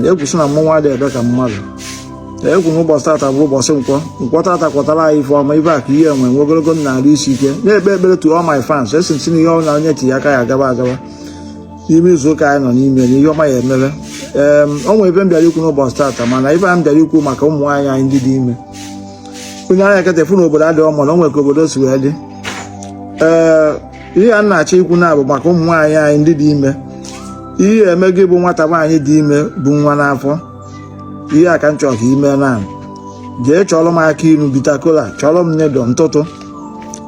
egwu si na mmọnwụ adịghị ebe ka mmadụ egwu na ụbọchị tata bụ ụbọchị nkwọ nkwọ tata kwọtara anyị ife ọma ibe ya ka anyị enwe nwe ogologo ndụ na arụ isi ike na-ekpe ekpere to all my fans asị m sị na ihe ọbụla onye tinye aka ya agaba agaba n'ime izu ụka anyị nọ n'ime na ihe ọma ya-emere ee o nwere ife m bịara ikwu n'ụbọchị tata mana ife a m bịara ikwu maka ụmụ nwaanyị anyị ndị dị ime i nee anya kịta ị fụ na obodo adịghị mma na o nwere ka obodo si wee dị ee ihe a m na-achọ ikwu na bụ maka ụmụ nwaanyị anyị ndị dị ime ihe ị ya-eme gị bụ nwata nwaanyị dị ime bu nwa n'afọ ihe a ka m chọrọ ka i mee na jee chọrọ m akị inu bitter kola chọrọ m needle ntụtụ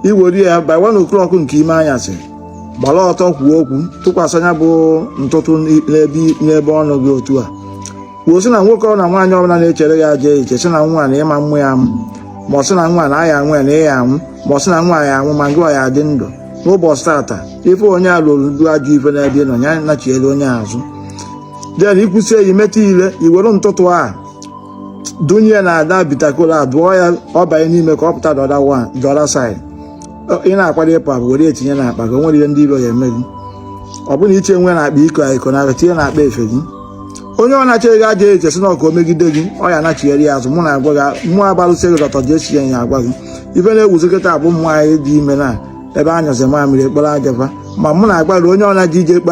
i were ya by one o'clock nke ime anyasị gbara ọtọ kwuo okwu tụkwasa nya bụ ntụtụ n'ebe ọnụ gị otu a kwuo sị na nwoke ọ na nwaanyị ọbụla na-echere ya ajọ iche sị na nwa na ị ma amụ ya amụ ma ọ sị na nwa na a ya-anwụ ya na ị ya-anwụ ma ọ sị na nwa ya-anwụ ma ngịwa ya-adị ndụ n'ụbọchị tata ife onye a lụrụ dị ajọ ife n'ebe ị nọ ya nachiere onye azụ then i kwusie i metụ ile i were ntụtụ a dunye na that bitter kola a dụọ ya ọ banye n'ime ka ọ pụta the other side ị na-akwado ịpụ apụ were ya tinye na akpa gị o nwerọ ihe ndị iro ya-eme gị ọ bụrụ na iche nwe na akpa iko a iko na tinye na akpa efe gị onye ọ na-echere gị ajọ iche sị na ọ ka o megide gị ọ ya-anachiere ya azụ mụ na-agwa gị mụ bụ alụsị ego doctor jesi ya ya agwa gị ife na-ewuzi kịta bụ ụmụ nwaanyị dị ime na ebe a nyụzi mamịrị e kporo aja fa ma mụ na-agwa onye ọ na-eji ije ekpe